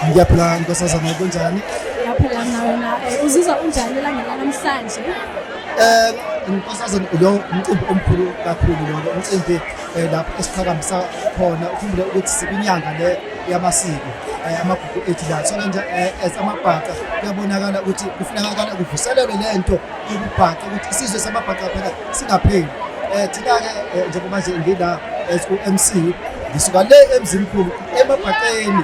Ngiyaphila nkosazana kunjani? Ngiyaphila mina wena. Eh, uzizwa unjani elangela namhlanje? Eh nkosazana lo umcimbi omkhulu kakhulu lo umcimbi eh, lapho esiqhakamisa khona ukhumbule ukuthi sibinyanga le yamasiko eh, amagugu ethu la so nje as amabhaca kuyabonakala ukuthi kufunakala kuvuselelwe le nto yokubhaca ukuthi isizwe samabhaca phela singapheli um thina-ke njengoba nje ngila as u-m c ngisuka le emzimkhulu emabhaqeni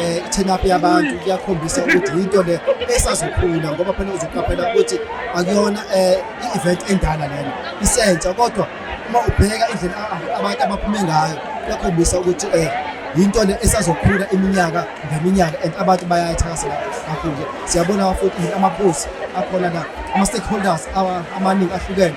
eh turn up yabantu kuyakhombisa ukuthi yinto le esazokhula ngoba phela uzoqaphela ukuthi akuyona eh i-event endala lena isentsha kodwa uma ubheka indlela abantu abaphume ngayo kuyakhombisa ukuthi eh yinto le esazokhula iminyaka ngeminyaka and abantu bayayithakasela kakhulu siyabona futhi amaphosi akhona la ama-stakeholders amaningi ahlukene